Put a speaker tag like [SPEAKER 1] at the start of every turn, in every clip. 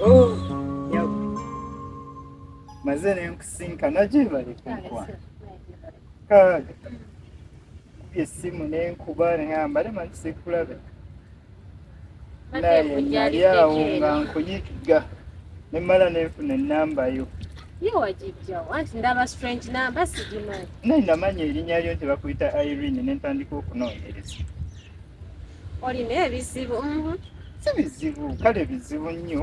[SPEAKER 1] Oh, maze nenkusinkana gyebali kunkwana kaaga kubye essimu nenkuba nengamba le manyi sikulabe naye nali awo nga nkuyiga nemmala nenfuna ennamba yo
[SPEAKER 2] naye namanya erinnya
[SPEAKER 1] lyo nti bakuyita irene nentandika okunoonyereza
[SPEAKER 2] olina ebizibu mhm. si
[SPEAKER 1] bizibu kale bizibu nnyo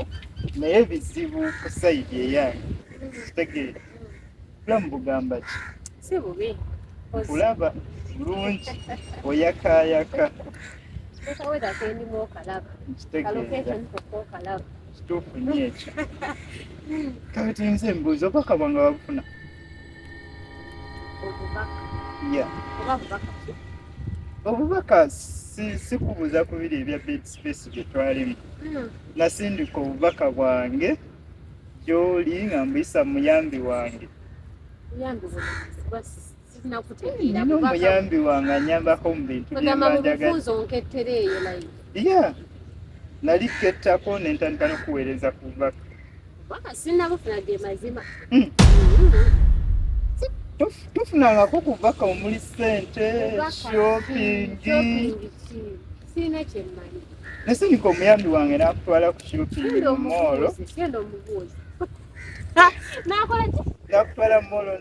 [SPEAKER 1] naye bizibu ku sayidi eyange kitegeera bulamu bugamba ki si bubi
[SPEAKER 2] kulaba
[SPEAKER 1] bulungi oyakayaka
[SPEAKER 2] kituufu nyo
[SPEAKER 1] ekyo kati nze mbuuza obakabwa nga babufuna
[SPEAKER 2] obubaka
[SPEAKER 1] sikubuuza ku biri ebya bed space bye twalimu hmm. nasindika obubaka bwange gyoli nga mbuyisa muyambi wange omuyambi wange anyambako mu bintu byemanjagaiya nali kettako nentandika nokuweereza ku bubaka Baka sina bufuna
[SPEAKER 2] ge mazima.
[SPEAKER 1] Mm. Tufuna nga ko kubaka omuli sente, shopping. Sina kye mmanyi.
[SPEAKER 2] Nese niko omuyambi
[SPEAKER 1] wange nakutwala ku shopping mu mall. Kendo omubuuzi.
[SPEAKER 2] Nakola ki? Nakutwala mu mall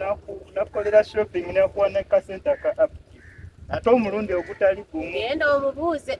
[SPEAKER 1] nakukolera shopping nakuwa ne kasente ka app. Ate omulundi ogutali gumu. Kendo omubuuze.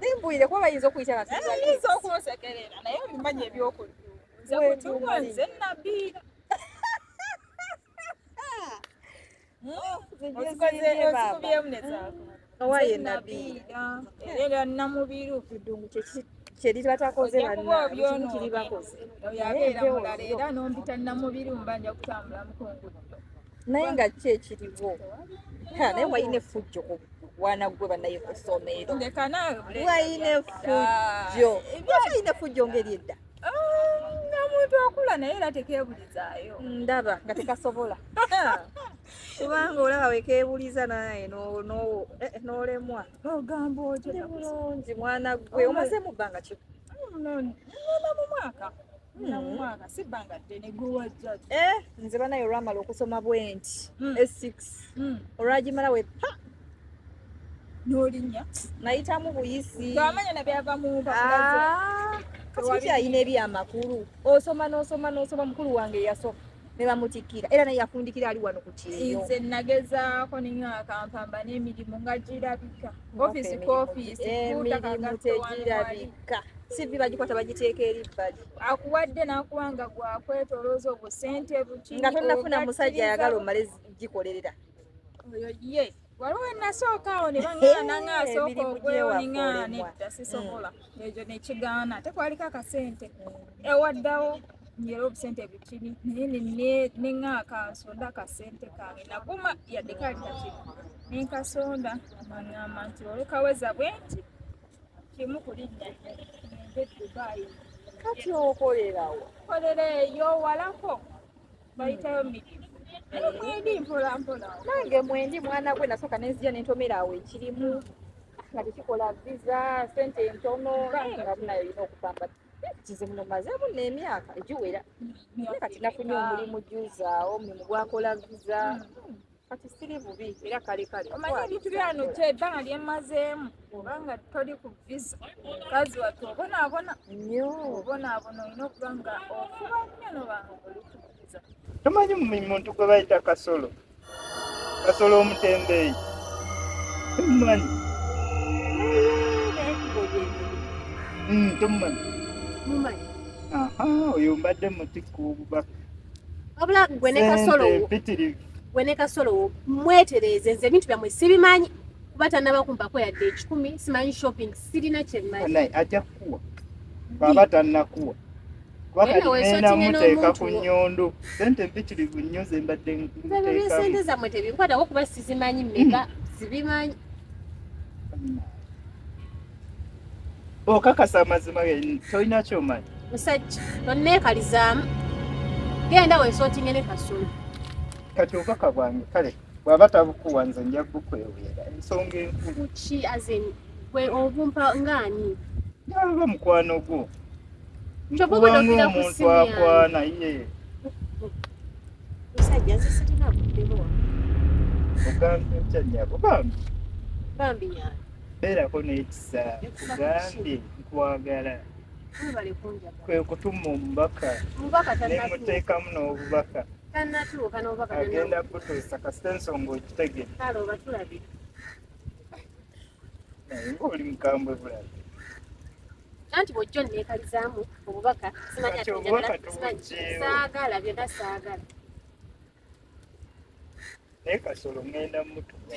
[SPEAKER 3] Nimbwire kuba bayinza okuyita nga eh, tuyinza okunsekerera naye obimanyi ebyokulya nze kutuwa nze nabbi ozikubyemu nezaako owaye nabbi era namubiru kidungu kyeki kyeri batakoze bannaekiribakoze oyo abeera mulala era nombita namubiru mba nja kutambula mukungudo naye nga ki ekiriwo naye walina effujjo ku wana gwe banaye ku ssomero walina effujjo walina effujjo ngeri edda omuntu akula naye era tekeebulizaayo ndaba nga tekasobola kubanga olaba wekeebuliza naye eh, eh, n'olemwa ogamba otyo bulungi mwana gwe omaze mu bbanga ki mu mwaka Eh, nze banaye olwamala okusoma bwenti hmm. e6 hmm. olwagimala we pa nolinya nayitamu buyisi ah, alina ebyamakulu osoma nosoma nosoma mukulu wange yasoka ne bamutikkira era naye yafundikira ali wano ku kyeyo nze nagezaako ninyo akampamba n'emirimu nga girabika ofiisi ku ofiisi emirimu tegirabika sivi bagikwata bagiteeka eri bbali akuwadde n'akuwa nga gwakwetolooza obusente buki nga tonnafuna musajja ayagala omale gikolerera oyo ye waliwo enasooka awo ne baŋaana nga asooka okwewoninga nedda sisobola mm. ekyo nekigaana ate kwaliko akasente mm. ewaddawo nyera obusente bukini naye neŋaaka nsonda akasente kange naguma yadde kali kaki nenkasonda maŋamba nti olekaweza bwe nti kimu kulinnya nende dubai kati okolerawo kolera eyo walako bayitayo miki mwendi mpola mpola nange mwendi mwana gwe nasooka nenzija nentomera awo ekirimu nga tekikola viza sente entono nga munayo olina okupamba kizibu mumazeemu n'emyaka egiwera naye kati nafunye omulimu juzaawo omulimu gwakola viza kati siri bubi era kale kale omanyi ebintu byano kyo ebbanga lyemmazeemu obanga toli ku visa kazi watu obonaabona nyo obonaabona olina okuba nga ofuba nnyo nobanga olikukuza tomanyi
[SPEAKER 1] muntu gwe bayita kasolo kasolo omutembeeyi tomumanyi hmm, tomumanyi oyo mbadde mutikububaka wabula
[SPEAKER 2] gwe ne kasolo gwe ne kasolo mwetereeze nze ebintu byammwe sibimanyi kuba tanaba kumpako yadde ekikumi simanyi shopping
[SPEAKER 1] sirina
[SPEAKER 2] kyemmanyi
[SPEAKER 1] ajja kukuwa bwaba
[SPEAKER 2] tannakuwa
[SPEAKER 1] kubakalinamuteeka ku nyondo sente mpitirivu nnyo zembadde sente
[SPEAKER 2] zammwe tebinkwatako kuba sizimanyi meka mm. zibimanyi
[SPEAKER 1] okakasa amazima tolina kyomanyi musajja
[SPEAKER 2] tonneekalizaamu genda wesootinge ne kasulu kati
[SPEAKER 1] obubaka bwange kale bwaba tabukuwa nze nja bukweweera ensonga enkulu ki azin
[SPEAKER 2] gwe obumpa ngaani nalaba
[SPEAKER 1] mukwano gwo nkubamu
[SPEAKER 2] omuntu
[SPEAKER 1] akwana ye
[SPEAKER 2] musajja nze sirina buddemu wa
[SPEAKER 1] ogambye otya nyabo bambi
[SPEAKER 2] bambi nyabo beerako
[SPEAKER 1] n'ekisa kugambye nkwagala
[SPEAKER 2] kwe kutuma
[SPEAKER 1] omubaka
[SPEAKER 2] nemuteekamu
[SPEAKER 1] n'obubaka
[SPEAKER 2] agenda kutuusa
[SPEAKER 1] kasita ensonga ogitegere
[SPEAKER 2] naye
[SPEAKER 1] ngaoli mukambwe bulabi
[SPEAKER 2] anti bwojja onneekalizaamu obubaka simanya
[SPEAKER 1] saagala byonna
[SPEAKER 2] saagala
[SPEAKER 1] naye kasolo ŋŋenda mutuwa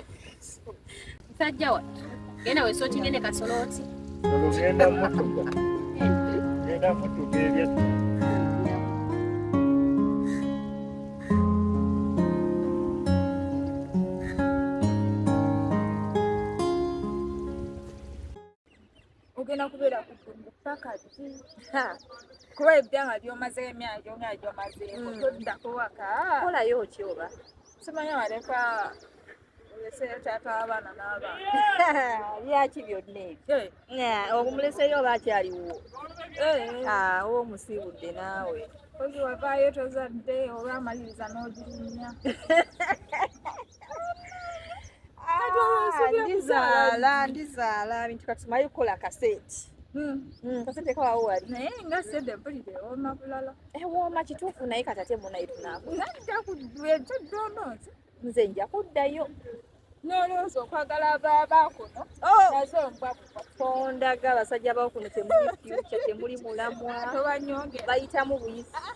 [SPEAKER 2] musajja wa genda wesotinge ne kasolo oti ŋŋenda
[SPEAKER 1] mutuwa ŋŋenda mutuwa ebyetta
[SPEAKER 3] ogenda kubeera kutundu paka ddi kuba ebyanga byomaze emyaka gyona gyomazeeko hmm. toddako waka kolayo ki oba
[SPEAKER 2] simanya waleka
[SPEAKER 3] oleseyo taata w'abaana n'abaana byaki
[SPEAKER 2] byonna ebyo eh. obumuleseyo oba akyaliwo eh. ah, oba omusiibudde naawe ozi wavaayo
[SPEAKER 3] tozadde olwamaliriza n'ogirinya
[SPEAKER 2] ndizaala ndizaala bintu kati tumaye kukola kaseti hmm. hmm, kasete kawawo wali naye nga sede
[SPEAKER 3] mpulire wooma bulala eh, wooma kituufu
[SPEAKER 2] naye kati ate munaye tunaku nja kudwejo
[SPEAKER 3] donoozi nze nja
[SPEAKER 2] kuddayo nolowooza
[SPEAKER 3] okwagala baba kuno oh! nazo mbwa kondaga
[SPEAKER 2] abasajja bawo kuno temuli fyuca temuli mulamwa
[SPEAKER 3] bayitamu buyisi ah, ah.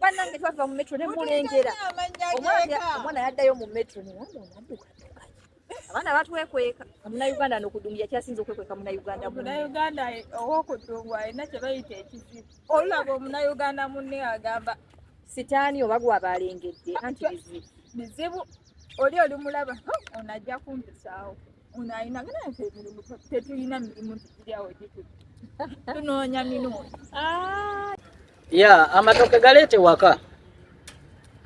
[SPEAKER 2] banange twava mu metro nemulengera omwana yaddayo mu metro newamunaduka abaana batwekweka omunauganda nokudunguya kyasinza okwekweka munauganda munauganda eh,
[SPEAKER 3] owokudungu alina kyebayita ekizibu olulaba omunauganda munne agamba sitaani
[SPEAKER 2] oba gwabalengedde anti bizibu bizibu
[SPEAKER 3] oli olimulaba onajja kumpisaawo Ono alina gana nti emirimu tetulina mirimu giriawo gitutu tunoonya
[SPEAKER 4] minuuni ah. ya amatoke galeete waka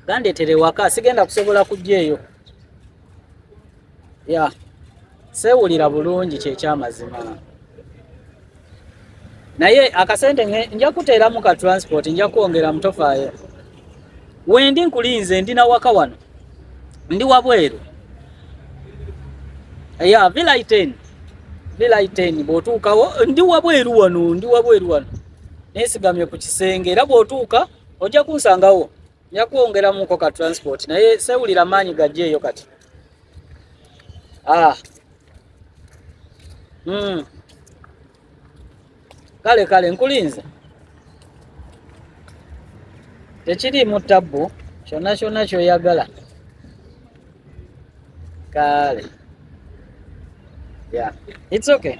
[SPEAKER 4] gandeetere waka sigenda kusobola kujja eyo ya seewulira bulungi kyekyamazima naye akasente nja kuteeramu ka transport nja kwongera mutofaayo wendi nkulinze ndi na waka wano ndi wabweru ya villa iten villa iten bw'otuukawo ndi wabweru wano ndi wabweru wano nesigamye ku kisenge era bw'otuuka ojja kunsangawo nja kwongeramuko ka transport naye sewulira maanyi gajja eyo kati ah. Mm. Kale kale nkulinze. Tekiriimu tabbu kyonna kyonna kyoyagala. Kale. Yeah. It's okay.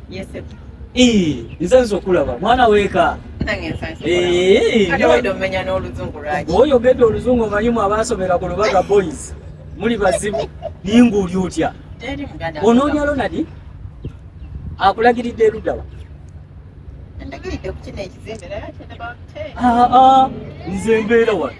[SPEAKER 5] nze
[SPEAKER 4] nze okulaba mwana weka
[SPEAKER 5] oyogedde oluzungu omanyimu
[SPEAKER 4] abaasomera ku lubaga boys muli bazibu ninga oli otya onoonya lonadi akulagiridde erudawa
[SPEAKER 5] nze mbeera wano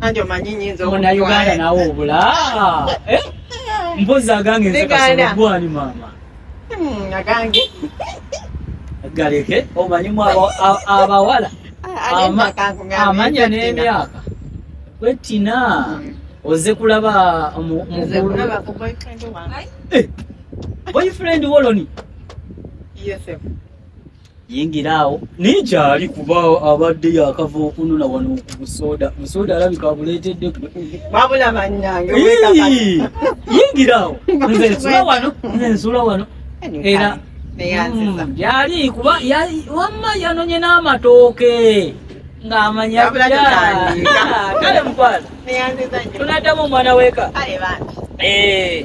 [SPEAKER 5] Kanje omanyi nyinza okutwala. Muna Uganda nawo
[SPEAKER 4] obula. Eh? Mpozi agange nze kasolo gwani mama. Hmm,
[SPEAKER 5] agange.
[SPEAKER 4] Galeke omanyi mwa abawala. Amanya n'emyaka. Kwetina. Hmm. Oze kulaba mu Oze kulaba
[SPEAKER 5] ku boyfriend wange.
[SPEAKER 4] Eh. Boyfriend woloni. Yes.
[SPEAKER 5] Sir. yingira
[SPEAKER 4] awo naye kyali kuba abadde yakava okunona wano ku busoda busoda alabika abuleetedde wabula
[SPEAKER 5] bannange yingira
[SPEAKER 4] awo nze nsula wano nze nsula wano era hmm, yali kuba wamma yanonye n'amatooke ng'amanya kale mukwala tunaddamu omwana weka eh.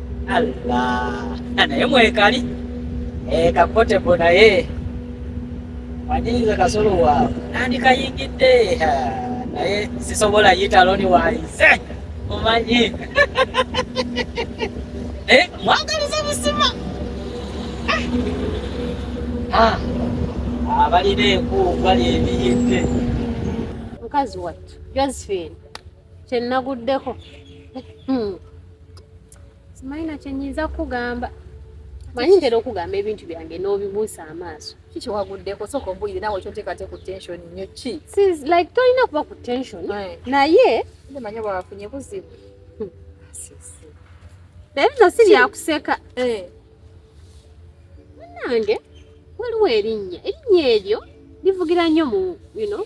[SPEAKER 4] Allah naye mwekali eh, kakotebo naye wanyinza kasolo waawe nandikayingidde naye sisobola yita loni wayize omanyi eh, mwagaliza busima ah. ah, abalina enkuufu bali ebiyidde
[SPEAKER 6] mukazi wattu josephine kyenaguddeko hmm. simanyi na kyenyinza kukugamba manyi ntera okugamba ebintu byange n'obibuusa amaaso kiki waguddeko
[SPEAKER 2] sooka ombulire nawe kyoteekate ku tension nyo ki like tolina kuba
[SPEAKER 6] ku tension naye manya wafunye
[SPEAKER 2] buzibu hmm.
[SPEAKER 6] naye bino si byakuseka eh. nange waliwo erinnya erinnya eryo livugira nnyo mu you know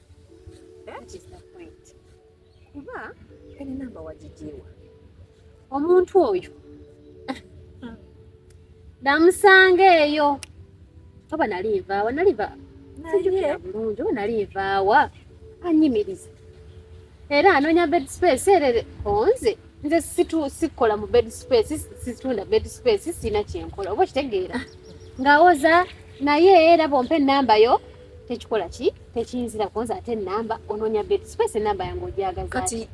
[SPEAKER 6] kuba ene namba
[SPEAKER 2] wagigiwa
[SPEAKER 6] omuntu oyo namusanga eyo oba nali nvaawa nali va sijukira bulungi oba nali nvaawa anyimiriza era anoonya bed space era konze nze sikola mu bed space situunda bed space sirina kyenkola oba okitegeera ngawoza naye era bompa enamba yo tekikola ki tekiyinzira kuwoza ate enamba onoonya bed space enamba yange ogyagaza kati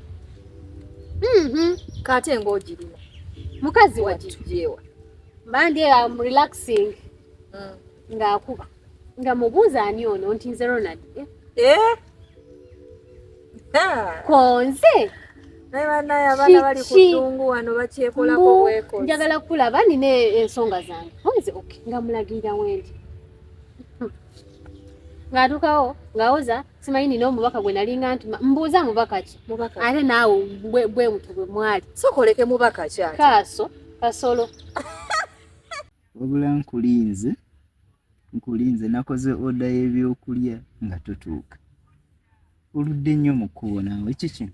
[SPEAKER 2] mhm. kate ngaogirina mukazi
[SPEAKER 6] wakijewa
[SPEAKER 2] mandi
[SPEAKER 6] am relaxing mm. ng'akuba nga mubuuza ani ono nti nze ronald eh? eh? konze
[SPEAKER 2] njagala kulaba nina
[SPEAKER 6] ensonga zange oze ok nga mulagirira wendi ng'atuukawo ng'awoza simanyi nina omubaka gwe nalinga nti mbuuza mubaka ki ate naawe bwe mutwe bwe mwali sokoleke mubaka
[SPEAKER 2] ki kaaso kasolo
[SPEAKER 1] Wabula nkulinze nkulinze nakoze oda y'ebyokulya nga totuuka oludde nnyo mu kkubo naawe kiki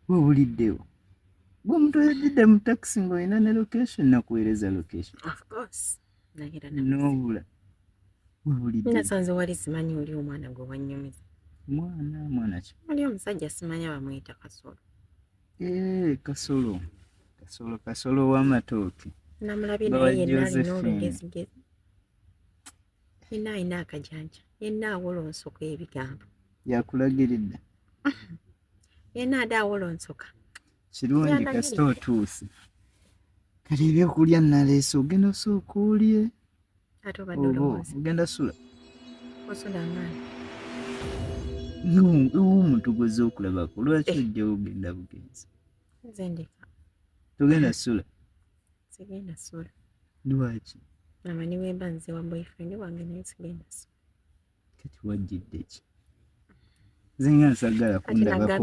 [SPEAKER 5] webuliddewo
[SPEAKER 1] gwe omuntu oyadidde mu takisi ng'olina ne location nakuweereza location
[SPEAKER 5] nobula
[SPEAKER 1] webuliddenasanze wali
[SPEAKER 5] simanyi oli omwana gwe wanyumiza mwana mwana
[SPEAKER 1] ki oli omusajja simanya
[SPEAKER 5] bamuyita kasolo Eee, eh, kasolo
[SPEAKER 1] kasolo kasolo w'amatooke namulabye naye yenna
[SPEAKER 5] alina olugezigezi yenna alina akajanja yenna awolonsoka ebigambo yakulagiridde yenna ade awolonsoka kirungi
[SPEAKER 1] kasita
[SPEAKER 5] otuuse
[SPEAKER 1] kale ebyokulya naleese ogenda osooka olye Ate obadde
[SPEAKER 5] olowooza. Ogenda sula.
[SPEAKER 1] Osula
[SPEAKER 5] ng'ani?
[SPEAKER 1] Omuntu gw'ozze okulabako lwaki eh. ojja ogenda bugenzi? Nze ndeka.
[SPEAKER 5] Togenda
[SPEAKER 1] sula? Sigenda
[SPEAKER 5] sula. Lwaki?
[SPEAKER 1] Amanyi bwemba
[SPEAKER 5] nze wa boyfriend wange naye sigenda sula. kati
[SPEAKER 1] wajjidde ki nze nga nsagala kundabako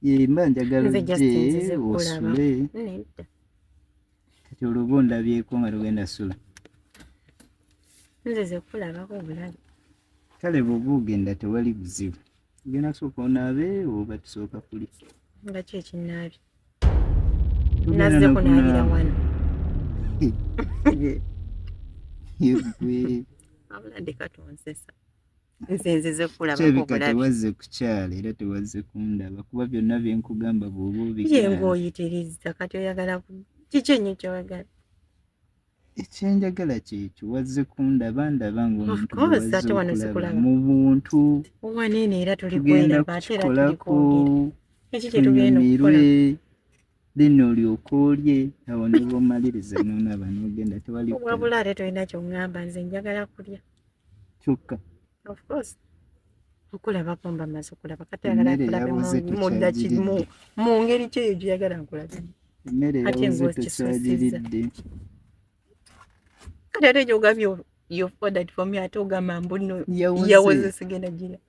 [SPEAKER 5] bwebimba njagala
[SPEAKER 1] ojje
[SPEAKER 5] osule
[SPEAKER 1] kati oluba ondabyeko nga tugenda sula
[SPEAKER 5] kale
[SPEAKER 1] bwoba ogenda tewali buzibu Ogenda kusooka onaabe oba tusooka kuli? Nga ki
[SPEAKER 5] ekinnaabi?
[SPEAKER 1] Nazze kunaabira
[SPEAKER 5] wano.
[SPEAKER 1] Yegwe. Abula
[SPEAKER 5] ndeka tonsesa. Nze nzize kulaba obulabi. Kirabika tewazze
[SPEAKER 1] kukyala era tewazze kundaba kuba byonna bye nkugamba bw'oba obigaana. Ye ng'oyitirizza kati
[SPEAKER 5] oyagala kiki ennyo ky'oyagala? ekyenjagala
[SPEAKER 1] kyekyo wazze kundaba ndaba ngaomu
[SPEAKER 5] buntu tugenda kukikolako tunyumirwe
[SPEAKER 1] lino olyoka olye awo niba omaliriza nonaba nogenda tewaliwabula ate tolina kyoŋamba
[SPEAKER 5] nze njagala kulya kyokka of course okulaba kumba maze okulaba kati ayagala nkulabe
[SPEAKER 1] mudaki mu ngeri
[SPEAKER 5] kyeyo gyeyagala nkulabe emmere yabuze tekyagiridde kati ate gyogambye you've ordered for me ate ogamba mbuno yawoze
[SPEAKER 1] sigenda gira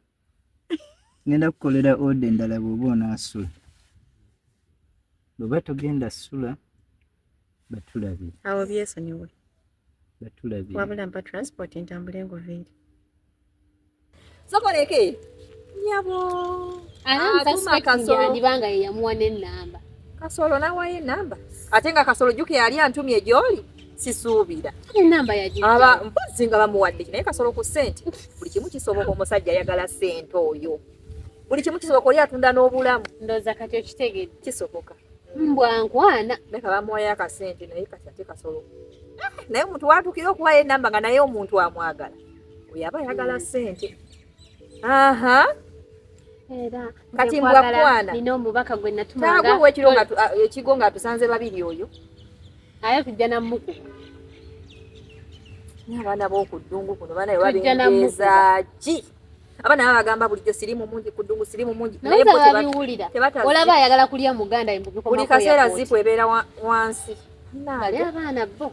[SPEAKER 1] ngenda kukolera oda endala bwoba onasula bweba togenda sula batulabira awo byesonyiwe wabula mpa transport
[SPEAKER 5] ntambule ngoveeri
[SPEAKER 2] sokoleke nyabo andiba nga yeyamuwa
[SPEAKER 6] nenamba kasolo nawayo
[SPEAKER 2] enamba ate nga kasolo juke yali antumye gyoli sisuubira
[SPEAKER 6] aba mpozi nga
[SPEAKER 2] bamuwadde naye kasolo ku sente buli kimu kisoboka omusajja ayagala sente oyo buli kimu kisoboka oli atunda n'obulamu ndoza kati okitegedde
[SPEAKER 6] kisoboka
[SPEAKER 2] mbwa nkwana
[SPEAKER 6] leka bamuwayo
[SPEAKER 2] akasente naye kati ate kasolo ah, naye omuntu watukira okuwayo enamba nga naye omuntu amwagala oyo aba ayagala mm. sente aha
[SPEAKER 6] era kati mbwa
[SPEAKER 2] kwana nina
[SPEAKER 6] omubaka gwe natumanga ah,
[SPEAKER 2] ekigo nga atusanze babiri oyo aye
[SPEAKER 6] tujja namuku
[SPEAKER 2] abaana bokuddungu kuno bana ewabengeeza
[SPEAKER 6] ki
[SPEAKER 2] abana baba bagamba bulijjo sirimu mungi kudungu sirimu mungi naye bo tebabiwulira
[SPEAKER 6] olaba ayagala
[SPEAKER 2] kulya
[SPEAKER 6] muganda imbubi kwa buli kaseera zipu
[SPEAKER 2] ebeera wansi nali
[SPEAKER 6] abaana bo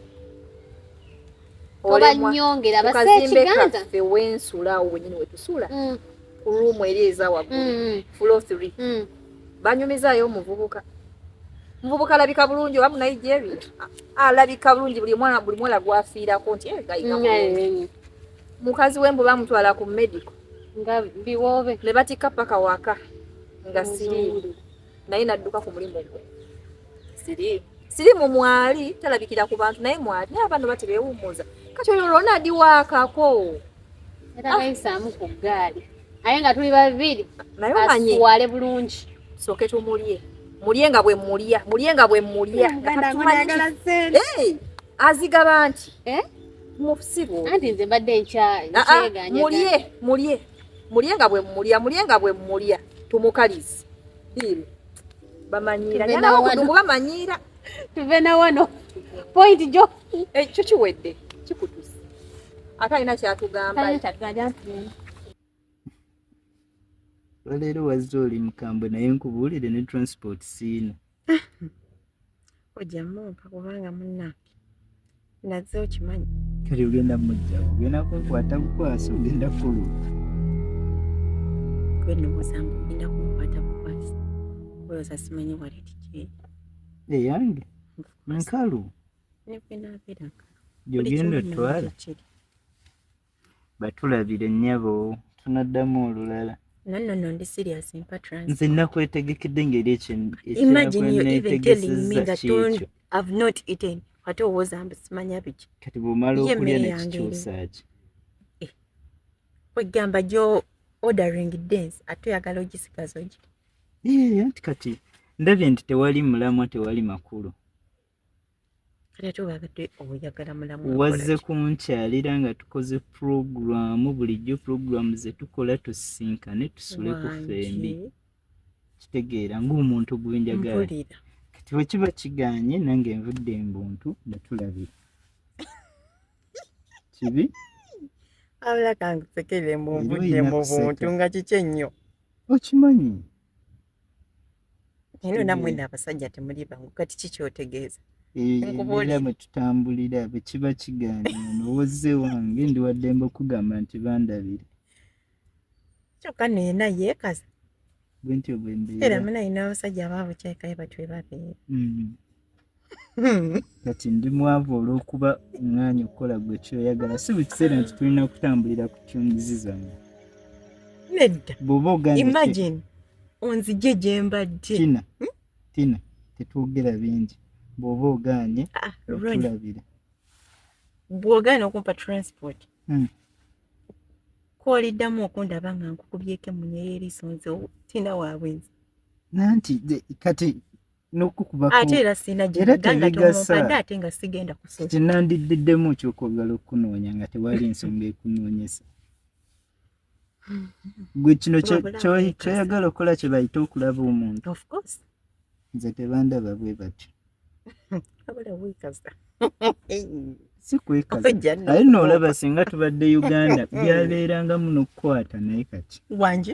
[SPEAKER 2] obanyongera base
[SPEAKER 6] ekiganza
[SPEAKER 2] fe
[SPEAKER 6] wensula
[SPEAKER 2] awo wenyini wetusula mm. ku
[SPEAKER 6] ruumu eri
[SPEAKER 2] eza waggulu mm, mm. fulo three
[SPEAKER 6] banyumizayo
[SPEAKER 2] omuvubuka muvubuka alabika bulungi oba munigeria alabika bulungi buli mwana buli mwana gwafiirako nti eh, gayiga bulungi mukazi we mbu bamutwala ku medical nga
[SPEAKER 6] biwoobe ne batikka paka
[SPEAKER 2] waka nga siri naye nadduka ku mulimu gwe siri siri mu mwali talabikira ku bantu naye mwali naye abantu batebewummuza kati oyo lwona adi waakako era
[SPEAKER 6] bayisaamu ku ggaali aye nga tuli babiri naye omanyi
[SPEAKER 2] asuwale bulungi
[SPEAKER 6] soke tumulye
[SPEAKER 2] mulye nga bwe mulya mulye nga bwe mulya azigaba nti eh? mubusiru anti nze mbadde
[SPEAKER 6] nkyamulyemulye mulye
[SPEAKER 2] mulye nga bwe mulya mulye nga bwe mulya tumukalize biiru bamanyiira nyanawakudumu bamanyiira tuve na
[SPEAKER 6] wano point jo ekyo eh, kiwedde
[SPEAKER 2] kikutuse ate alina kyatugamba
[SPEAKER 1] olwaleero wazze oli mukambwe naye nkubuulire ne transport siina
[SPEAKER 5] ojja mumpa kubanga munnange naze okimanyi kati ogenda
[SPEAKER 1] mujja ogenda kunkwata bukwasi ogenda kuluka
[SPEAKER 5] gwenowozambu ogenda kunkwata bukwasi oyoza simanyi waleti kyeyi eyange
[SPEAKER 1] nkalu negwenabeera
[SPEAKER 5] nkalu
[SPEAKER 1] gyogenda
[SPEAKER 5] otwala
[SPEAKER 1] batulabire nnyabo tunaddamu olulala no no no ndi serious
[SPEAKER 5] mpa trans nze nakwetegekede
[SPEAKER 1] ngeri ekyo imagine you even telling me
[SPEAKER 5] that don't have not eaten ate owoza mbu simanya biki kati bwomala okulya
[SPEAKER 1] nekikyusa ki eh. kwegamba
[SPEAKER 5] gyo ordering dance ate oyagala ogisigaza ogi nti
[SPEAKER 1] kati ndabye nti tewali mulamwa tewali makulu
[SPEAKER 5] wazze kunkyalira
[SPEAKER 1] nga tukoze pulogulaamu bulijjo pulogulaamu ze tukola tusisinkane tusule ku fembi kitegeera ng'omuntu gwenjagala kati bwe kiba kiganye nange nvudde embuntu ne tulabira kibi
[SPEAKER 5] abula kankusekere mbu nvudde mu buntu nga kiki ennyo okimanyi Eno namwe na abasajja temuli bangu kati kiki otegeeza? Era
[SPEAKER 1] mwe tutambulira bwe kiba kigaana nowozze wange ndi waddembe okugamba nti bandabire.
[SPEAKER 5] Kyokka naye naye kazi. Bwentyo
[SPEAKER 1] bwe mbeera. Era muna ina abasajja
[SPEAKER 5] abaabwe kyekaye batwe babeera. Mm. Hmm.
[SPEAKER 1] kati ndi mwavu olw'okuba omwanya okukola gwe kyoyagala si buli kiseera nti tulina kutambulira ku tyunizi zange
[SPEAKER 5] nedda bwoba
[SPEAKER 1] ogaimagine
[SPEAKER 5] onzije gye mbadde tina hmm? tina
[SPEAKER 1] tetwogera bingi bwoba ogaanye ah, tulabira
[SPEAKER 5] bwogaana okumpa transport hmm. kwoliddamu okundaba nga nkukubyeko emunya y'eriiso nze tina waabwenzi nanti
[SPEAKER 1] kati n'okukuba ate era sirina
[SPEAKER 5] gyegandatomupadde ate nga sigenda kusoa kye nandiddiddemu
[SPEAKER 1] okyokwagala okukunoonya nga tewali nsonga ekunoonyesa gwe kino kyoyagala okukola kye bayite okulaba omuntu
[SPEAKER 5] nze
[SPEAKER 1] tebandaba bwe batyo sikwekaza aye noolaba singa tubadde uganda byabeeranga muno okukwata naye kati wanje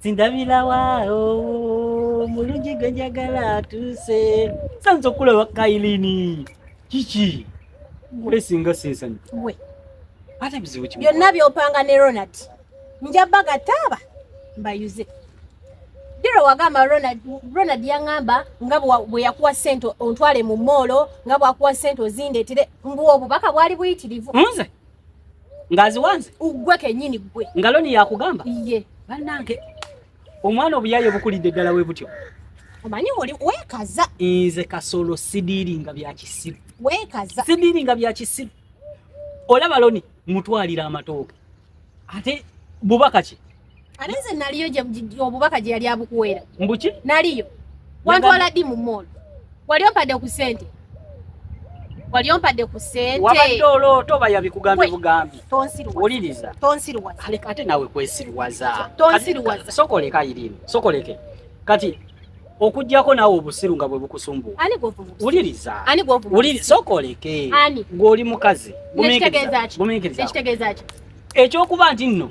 [SPEAKER 7] sindabilawa omulungi oh, gwe njagala atuuse sanza okulaba kailini kiki kulesinga sesanyu
[SPEAKER 2] ate bizibu
[SPEAKER 7] kimu byonna byopanga ne
[SPEAKER 2] ronald njabba gataaba mbayuze dira wagamba ronald, ronald yangamba nga bwe yakuwa sente ontwale mu moolo nga bwakuwa sente ozindeetere mbu obubaka
[SPEAKER 7] bwali
[SPEAKER 2] buyitirivu nze
[SPEAKER 7] ngaziwanze ugwe kenyini gwe
[SPEAKER 6] ngaloni yakugamba
[SPEAKER 7] iye banange omwana obuyaye obukulidde ddala we butyo omanyi oli
[SPEAKER 6] wekaza nze kasolo
[SPEAKER 7] sidiringa bya kisiru wekaza sidiringa
[SPEAKER 6] bya kisiru
[SPEAKER 7] olaba loni mutwalira amatooke ate bubaka ki ate nze naliyo
[SPEAKER 6] obubaka gye yali abukuweera mbuki naliyo wantwala ddi mu moolo wali ompadde ku sente wali ompadde ku
[SPEAKER 7] sente wabadde olooto oba yabikugambye bugambi tonsiruwuliriza
[SPEAKER 6] tonsiruwaza ate
[SPEAKER 7] nawe kwesiruwaza tonsiruwaza
[SPEAKER 6] sokoleka irimu
[SPEAKER 7] sokoleke kati okujjako naawe obusiru nga bwe bukusumbuwa wuliriza
[SPEAKER 6] sokoleke
[SPEAKER 7] ng'oli
[SPEAKER 6] mukazi gumiikiriza
[SPEAKER 7] ekyokuba nti nno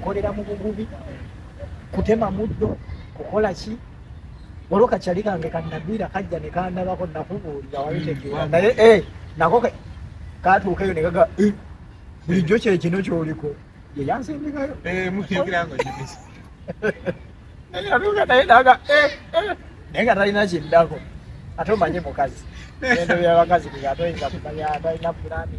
[SPEAKER 8] nkolera mu bugubi kutema muddo kukola ki waliwo kakyali kange kanagwira kajja nekandabako nakubuulira wabitegeera naye eh, nako katuuka eyo negaga eh, bulijjo kyekino kyoliko yeyansindikayo eh, naye nga talina kiddako ate omanye mukazi endo byabakazi bigatoyinza kumanya talina pulani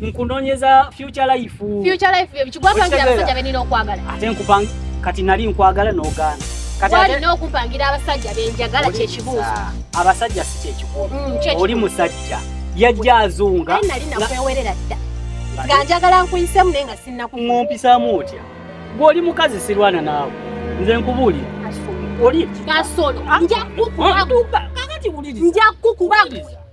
[SPEAKER 7] nkunonyeza future life future life bye kigwapangira
[SPEAKER 6] abasajja benina okwagala ate nkupanga
[SPEAKER 7] kati nali nkwagala n'ogaana walina
[SPEAKER 6] okupangira abasajja benjagala kyekibuuzo abasajja si
[SPEAKER 7] kyekikulu mm, oli musajja yajja azunga nali nakwewerera
[SPEAKER 6] dda nga njagala nkuyisemu naye nga sinnakumumpisaamu
[SPEAKER 7] otya gw'oli mukazi sirwana naawe nze nkubuulira oli kasolo
[SPEAKER 6] nja kukuba nja kukuba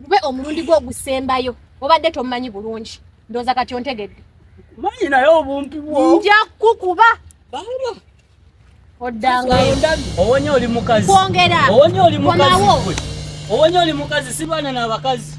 [SPEAKER 6] gube omulundi gwo ogusembayo obadde tomumanyi bulungi ndooza kati ontegedde manyi naye
[SPEAKER 7] obumpi bwo nja kukuba
[SPEAKER 6] banga oddangayo owonye oli
[SPEAKER 7] mukazi kwongera owonye oli mukazi owonye oli mukazi si baana na bakazi